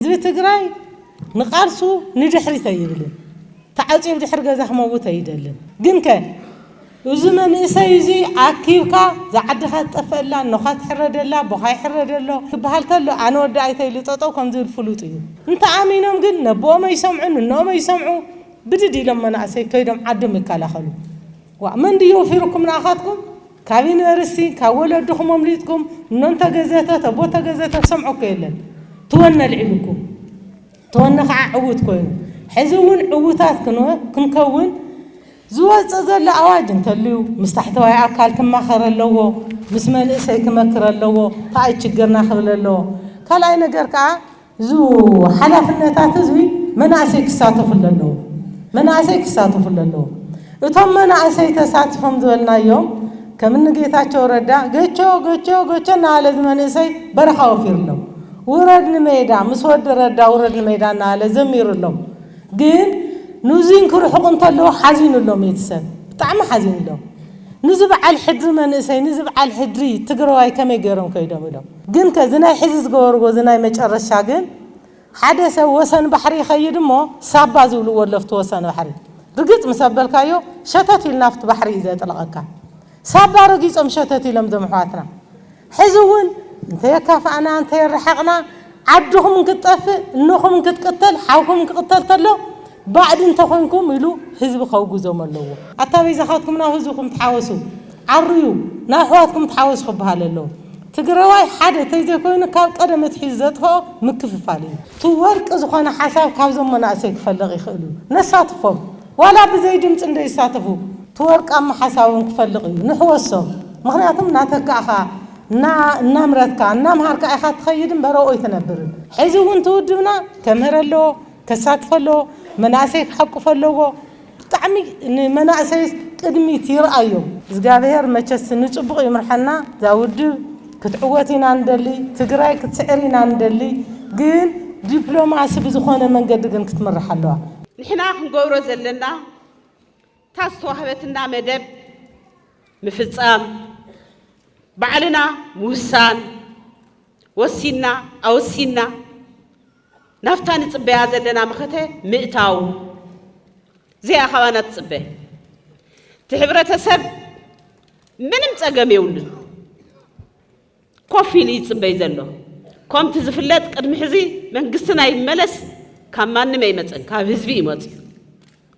ህዝቢ ትግራይ ንቓልሱ ንድሕሪት ኣይብልን፣ ተዓጽዩ ኣብ ድሕሪ ገዛ ክመውት ኣይደልን። ግንከ እዚ መንእሰይ እዚ ኣኪብካ ዝዓድኻ ትጠፈኣላ፣ እኖኻ ትሕረደላ፣ ኣቦኻ ይሕረደሎ ክበሃል ከሎ ኣነ ወዲ ኣይተ ኢሉ ጠጠው ከም ዝብል ፍሉጥ እዩ። እንተኣሚኖም ግን ነቦኦም ኣይሰምዑን እኖኦም ኣይሰምዑ ብድድ ኢሎም መናእሰይ ከይዶም ዓዶም ይከላኸሉ። ዋእ መን ድዩ ወፊሩኩም ንኣኻትኩም ካቢነ ርስቲ ካብ ወለድኹም ኣምሊጥኩም እኖ እንተገዘተ ተቦ ተገዘተ ዝሰምዖ እኮ የለን ተወነ ኣልዒሉኩም ተወነ ከዓ ዕውት ኮይኑ ሕዚ እውን ዕውታት ክንከውን ዝወፅእ ዘሎ ኣዋጅ እንተልዩ ምስ ታሕተዋይ ኣካል ክማኸር ኣለዎ ምስ መንእሰይ ክመክር ኣለዎ ተኣይ ችግርና ክብል ኣለዎ ካልኣይ ነገር ከዓ እዙ ሓላፍነታት እዙይ መናእሰይ ክሳተፉሉ ኣለዎም። መናእሰይ ክሳተፉሉ ኣለዎም። እቶም መናእሰይ ተሳቲፎም ዝበልናዮም ከም እኒ ጌታቸው ረዳ ገቾ ገቾ ገቾ እናበለ እዚ መንእሰይ በረኻ ወፊሩሎም ውረድ ንሜዳ ምስ ወዲ ረዳ ውረድ ንሜዳ እናበለ ዘሚሩሎም ግን ንዙይ እንክርሕቑ እንተለዉ ሓዚኑሎም እቲ ሰብ ብጣዕሚ ሓዚኑሎም ንዚ በዓል ሕድሪ መንእሰይ ንዚ በዓል ሕድሪ ትግራዋይ ከመይ ገይሮም ከይዶም ኢሎም ግን ከ እዚ ናይ ሕዚ ዝገበርዎ እዚ ናይ መጨረሻ ግን ሓደ ሰብ ወሰን ባሕሪ ይኸይድ እሞ ሳባ ዝብልዎ ኣሎ ኣብቲ ወሰን ባሕሪ ርግጽ ምስ ኣበልካዮ ሸተት ኢሉ ናብቲ ባሕሪ እዩ ዘጥልቐካ ሳባ ረጊጾም ሸተት ኢሎም እዞም ኣሕዋትና ሕዚ እውን እንተየካፋእና እንተየረሓቕና ዓድኹም እንክትጠፍእ እኖኹም እንክትቅተል ሓውኩም እንክቅተል ተሎ ባእዲ እንተኮንኩም ኢሉ ህዝቢ ከውግዞም ኣለዎ። ኣታ በይዛኻትኩም ናብ ህዝብኹም ተሓወሱ ዓርዩ ናብ ኣሕዋትኩም ተሓወሱ ክበሃል ኣለዎ። ትግረዋይ ሓደ ተይዘኮይኑ ካብ ቀደም ኣትሒዙ ዘጥፈኦ ምክፍፋል እዩ። እቲ ወርቂ ዝኾነ ሓሳብ ካብዞም መናእሰይ ክፈልቕ ይኽእል እዩ። ነሳትፎም ዋላ ብዘይ ድምፂ እንደይሳተፉ እቲ ወርቃማ ሓሳቦም ክፈልቕ እዩ። ንሕወሶም ምኽንያቱም እናተካእኻ እና እናምረትካ እናምሃርካ ኢኻ እትኸይድ እምበር ኣብኡ ኣይትነብርን። ሕዚ እውን እቲ ውድብና ከምህር ኣለዎ። ከሳትፎ ኣለዎ መናእሰይ ክሓቁፎ ኣለዎ ብጣዕሚ ንመናእሰይስ ቅድሚት ይርኣዮም። እዝጋብሄር መቸስ ንፅቡቅ ይምርሐና ዛውድብ ክትዕወት ኢና ንደሊ ትግራይ ክትስዕር ኢና ንደሊ ግን ዲፕሎማሲ ብዝኾነ መንገዲ ግን ክትምራሕ ኣለዋ። ንሕና ክንገብሮ ዘለና እታ ዝተዋህበትና መደብ ምፍፃም ባዕልና ምውሳን ወሲንና ኣወሲንና ናብታ ንጽበያ ዘለና መኸተ ምእታው ዘያ ካባና ትጽበ። እቲ ሕብረተሰብ ምንም ጸገም የብሉን ኮፍ ኢሉ ይጽበይ ዘሎ። ኮምቲ ዝፍለጥ ቅድሚ ሕዚ መንግስቲ ናይ መለስ ካብ ማንም ኣይመጽን ካብ ህዝቢ እዩ መጽዩ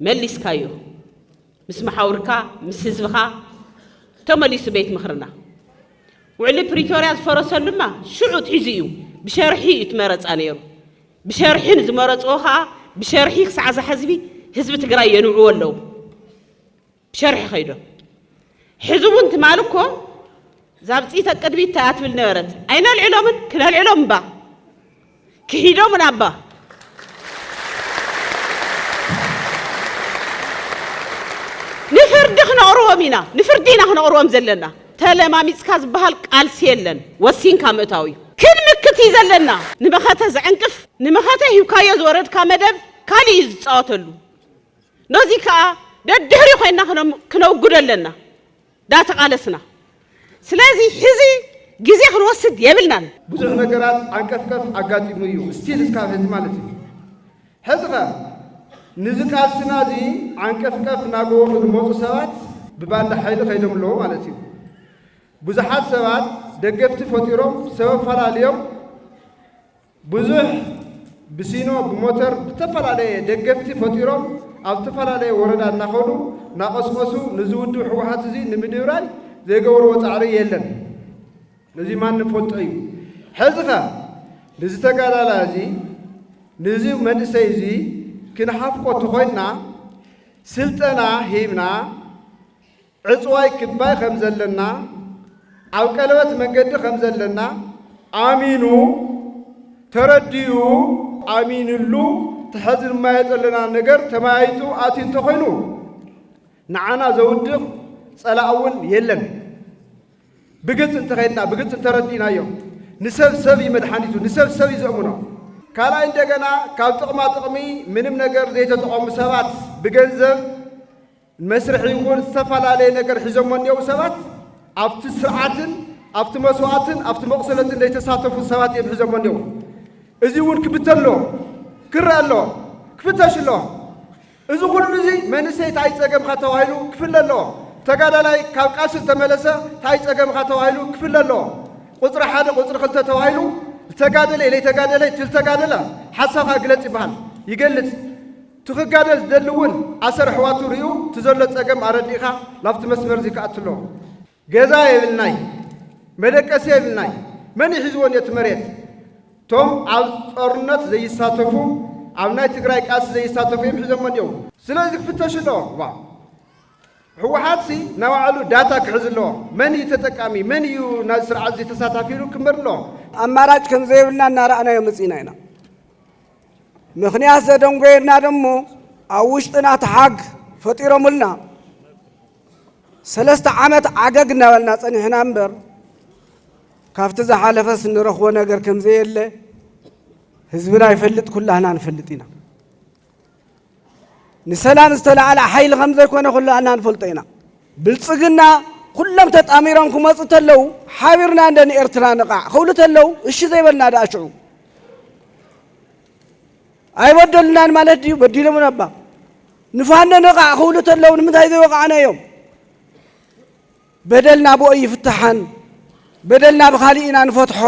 መሊስካዮ ምስ መሓውርካ ምስ ህዝብኻ ተመሊሱ ቤት ምኽርና። ውዕሊ ፕሪቶርያ ዝፈረሰሉማ ሽዑ ኣትሒዙ እዩ ብሸርሒ እዩ እቲ መረፃ ነይሩ። ብሸርሒ ንዝመረፅዎ ከዓ ብሸርሒ ክሳዕ እዛ ሕዝቢ ህዝቢ ትግራይ የንውዕዎ ኣለዉ። ብሸርሒ ከይዶም ሕዚ እውን ትማል እኮ ዛብፂተ ቅድሚት ተያ ትብል ነበረት ኣይነልዕሎምን ክነልዕሎም እባ ክሒዶ ምናባ ንፍርዲ ክነቕርቦም ኢና ንፍርዲ ኢና ክነቕርቦም ዘለና ተለማሚጽካ ዝበሃል ቃልሲ የለን ወሲንካ ምእታው እዩ ክንምክት እዩ ዘለና ንመኸተ ዘዕንቅፍ ንመኸተ ሂብካዮ ዝወረድካ መደብ ካልእ እዩ ዝጻወተሉ ነዚ ከኣ ደድሕሪ ኮይና ክነውግዶ ኣለና ዳተቓለስና ስለዚ ሕዚ ግዜ ክንወስድ የብልናን። ብዙሕ ነገራት ዓንቀፍቀፍ ኣጋጢሙ እዩ እስቲል እስካብ ሕዚ ማለት እዩ ሕዚኸ ንዚ ቃልስና እዚ ዓንቀፍቀፍ ናገበሩ ዝመፁ ሰባት ብባንዳ ሓይሊ ከይዶም ኣለዉ ማለት እዩ ብዙሓት ሰባት ደገፍቲ ፈጢሮም ሰበብ ፈላልዮም ብዙሕ ብሲኖ ብሞተር ብተፈላለየ ደገፍቲ ፈጢሮም ኣብ ዝተፈላለየ ወረዳ እናኸዱ እናቐስቐሱ ንዚ ውድብ ህወሓት እዙይ ንምድብራይ ዘይገበርዎ ፃዕሪ የለን። ነዙይ ማንም ፈልጦ እዩ። ሕዚ ከ ንዚ ተጋዳላ እዙይ ንዚ መንእሰይ እዙይ ክንሓፍቆ ተኾይንና ስልጠና ሂብና ዕጽዋይ ክባይ ከም ዘለና፣ ኣብ ቀለበት መንገዲ ከም ዘለና ኣሚኑ፣ ተረዲኡ፣ ኣሚንሉ እቲ ሐዚ ንማዮ ዘለና ነገር ተመያይጡ ኣትዩ እንተኾይኑ ንዓና ዘውድቕ ጸላእ እውን የለን። ብግልፂ እንተኸድና ብግልፂ እንተረዲእናዮ ንሰብ ሰብ እዩ መድሓኒቱ፣ ንሰብ ሰብ እዩ ዘእምኖ። ካልኣይ እንደገና ካብ ጥቕማ ጥቕሚ ምንም ነገር ዘይተጠቐሙ ሰባት ብገንዘብ ንመስርሕ ይኹን ዝተፈላለየ ነገር ሒዞሞ እኒኦው ሰባት ኣብቲ ስርዓትን ኣብቲ መስዋእትን ኣብቲ መቑሰለትን ዘይተሳተፉ ሰባት እዮም ሒዞሞ እኒኦው። እዚ እውን ክብተን ኣለዎ፣ ክረአ ኣለዎ፣ ክፍተሽ ኣለዎ። እዚ ኩሉ እዚ መንእሰይ ታይ ፀገምካ ተባሂሉ ክፍለ ኣለዎ። ተጋዳላይ ካብ ቃልሲ ዝተመለሰ ታይ ፀገምካ ተባሂሉ ክፍለ ኣለዎ። ቁፅሪ ሓደ ቁፅሪ ክልተ ተባሂሉ ዝተጋደለ ዘይተጋደለ እቲ ዝተጋደለ ሓሳብካ ግለፅ ይበሃል፣ ይገልፅ። እቲ ክጋደል ዝደሊ እውን ኣሰር ኣሕዋቱ ሪኡ እቲ ዘሎ ፀገም ኣረዲእኻ ናብቲ መስመር እዙይ ክኣቱ ኣለዎ። ገዛ የብልናይ መደቀሲ የብልናይ መን እዩ ሒዝዎ እኒኦ እቲ መሬት? እቶም ኣብ ጦርነት ዘይሳተፉ ኣብ ናይ ትግራይ ቃልሲ ዘይሳተፉ እዮም ሒዞሞ እኒኦው። ስለዚ ክፍተሹ ኣለዎም። ዋ ህወሓትሲ ናይ ባዕሉ ዳታ ክሕዝ ኣለዎ። መን እዩ ተጠቃሚ መን እዩ ናዚ ስርዓት እዙይ ተሳታፊ ኢሉ ክምር ኣለዎ። ኣማራጭ ከምዘይብልና እናረኣናዮ መፂእና ኢና። ምኽንያት ዘደንጎየና ደሞ ኣብ ውሽጥና ተሓግ ፈጢሮምልና ሰለስተ ዓመት ዓገግ እናበልና ጸኒሕና እምበር ካብቲ ዝሓለፈስ ንረኽቦ ነገር ከምዘየለ ህዝብና ይፈልጥ ኩላህና ንፈልጥ ኢና። ንሰላም ዝተላዕለ ሓይሊ ከም ዘይኮነ ኩላና ንፈልጦ ኢና። ብልጽግና ኩሎም ተጣሚሮም ክመጹ ተለው ሓቢርና እንደ ንኤርትራ ንቓዕ ክብሉ ተለው እሺ ዘይበልና ደኣ ሽዑ ኣይበደሉናን ማለት ድዩ? በዲሎምን ኣባ ንፋኖ ንቓዕ ክብሉ ተለው ንምንታይ ዘይወቃዕና እዮም? በደልና ብኦ ይፍትሓን በደልና ብካሊእ ኢና ንፈትሖ።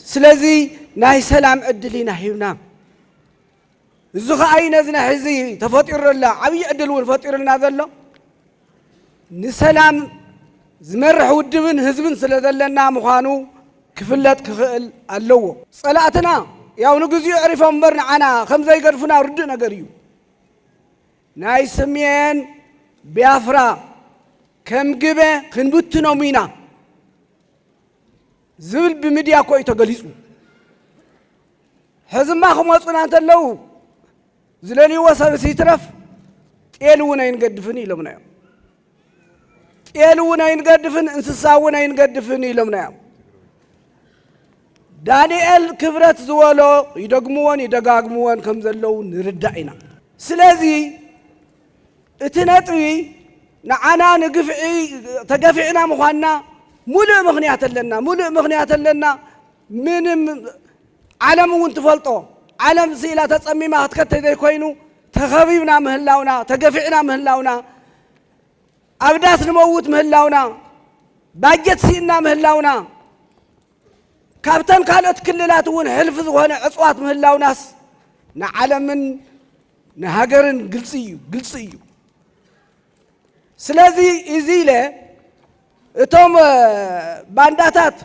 ስለዚ ናይ ሰላም ዕድል ኢና ሂብና እዚ ከኣ ነዚ ናይ ሕዚ ተፈጢሩ ዘሎ ዓብዪ ዕድል እውን ፈጢሩልና ዘሎ ንሰላም ዝመርሕ ውድብን ህዝብን ስለ ዘለና ምዃኑ ክፍለጥ ክኽእል ኣለዎ። ጸላእትና ያው ንግዚኡ ዕሪፎም እምበር ንዓና ከም ዘይገድፉና ርዱእ ነገር እዩ። ናይ ስሜን ቢያፍራ ከም ግበ ክንብትኖም ኢና። ዝብል ብምድያ እኮ እዩ ተገሊፁ። ሕዝማ ክመፁና እንተለዉ ዝለልይዎ ሰብስ ይትረፍ ጤል እውን ኣይንገድፍን ኢሎምና እዮም። ጤል እውን ኣይንገድፍን እንስሳ እውን ኣይንገድፍን ኢሎምና እዮም። ዳንኤል ክብረት ዝበሎ ይደግምዎን ይደጋግምዎን ከም ዘለዉ ንርዳእ ኢና። ስለዚ እቲ ነጥቢ ንዓና ንግፍዒ ተገፊዕና ምዃንና ሙሉእ ምኽንያት ኣለና ሙሉእ ምኽንያት ኣለና ምንም ዓለም እውን ትፈልጦ ዓለም ስኢላ ተጸሚማ ክትከተ ዘይኮይኑ ተኸቢብና ምህላውና ተገፊዕና ምህላውና ኣብ ዳስ ንመውት ምህላውና ባጀት ስኢና ምህላውና ካብተን ካልኦት ክልላት እውን ሕልፊ ዝኾነ ዕፅዋት ምህላውናስ ንዓለምን ንሃገርን ግልፂ እዩ ግልፂ እዩ ስለዚ እዚ ኢለ እቶም ባንዳታት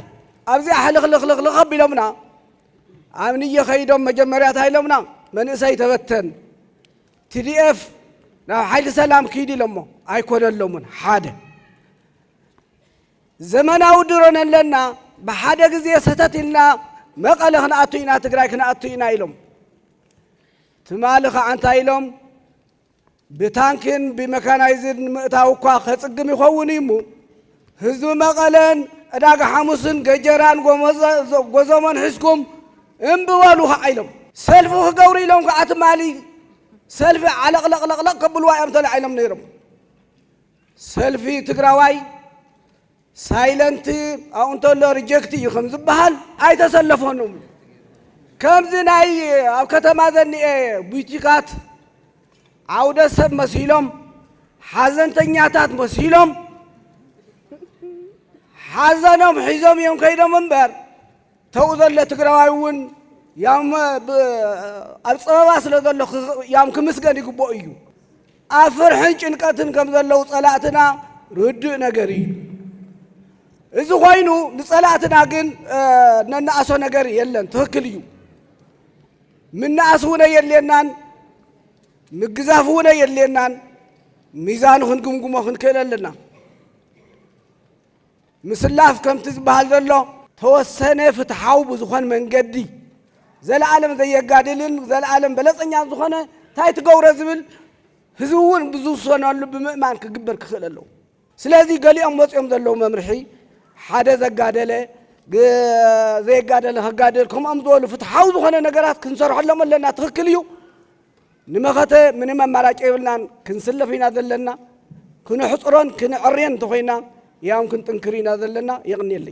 ኣብዚኣ ሕልኽልኽልኽልኽ ኣቢሎምና ኣብ ንየ ኸይዶም መጀመርያ እንታይ ኢሎምና መንእሰይ ተበተን ቲዲኤፍ ናብ ሓይሊ ሰላም ክይድ ኢሎሞ ኣይኮነሎምን ሓደ ዘመናዊ ድሮን ኣለና ብሓደ ግዜ ሰተት ኢልና መቐለ ክንኣቱ ኢና ትግራይ ክንኣቱ ኢና ኢሎም ትማሊ ኸኣ እንታይ ኢሎም፣ ብታንክን ብመካናይዝድ ንምእታው እኳ ከጽግም ይኸውን እዩ'ሞ፣ ህዝቢ መቐለን ዕዳጋ ሓሙስን ገጀራን ጎዞሞን ሒዝኩም እምቢ በሉ ኸኣ ኢሎም። ሰልፊ ክገብሩ ኢሎም ከኣ ትማሊ ሰልፊ ዓለቕለቕለቕለቕ ከብልዋ እዮም ተላዒሎም ነይሮም። ሰልፊ ትግራዋይ ሳይለንት ኣብኡ እንተሎ ሪጀክት እዩ ከም ዝበሃል ኣይተሰለፎን እም ከምዚ ናይ ኣብ ከተማ ዘኒኤ ቡቲካት ዓውደ ሰብ መሲሎም ሓዘንተኛታት መሲሎም ሓዘኖም ሒዞም እዮም ከይዶም እምበር ተው ዘለ ትግራዋይ እውን ያም ኣብ ፀበባ ስለ ዘሎ ያም ክምስገን ይግብኦ እዩ። ኣብ ፍርሕን ጭንቀትን ከም ዘለው ፀላእትና ርዱእ ነገር እዩ። እዚ ኮይኑ ንፀላእትና ግን ነናእሶ ነገር የለን፣ ትክክል እዩ። ምናእስ እውን የድልየናን፣ ምግዛፍ እውን የድልየናን። ሚዛኑ ክንግምግሞ ክንክእል ኣለና። ምስላፍ ከምቲ ዝበሃል ዘሎ ተወሰነ ፍትሓዊ ብዝኾን መንገዲ ዘለኣለም ዘየጋድልን ዘለኣለም በለጸኛን ዝኾነ እንታይ ትገብሮ ዝብል ህዝቢ እውን ብዝውሰነሉ ብምእማን ክግበር ክኽእል ኣለዎ። ስለዚ ገሊኦም ወፂኦም ዘለዉ መምርሒ ሓደ ዘጋደለ ዘየጋደለ ከጋድል ከምኦም ዝበሉ ፍትሓዊ ዝኾነ ነገራት ክንሰርሐሎም ኣለና ትኽክል እዩ። ንመኸተ ምንም ኣማራጭ የብልናን ክንስለፍ ኢና ዘለና ክነሕፅሮን ክነዐርየን እንተኾይና ያው ክንጥንክር ኢና ዘለና የቕንየለይ።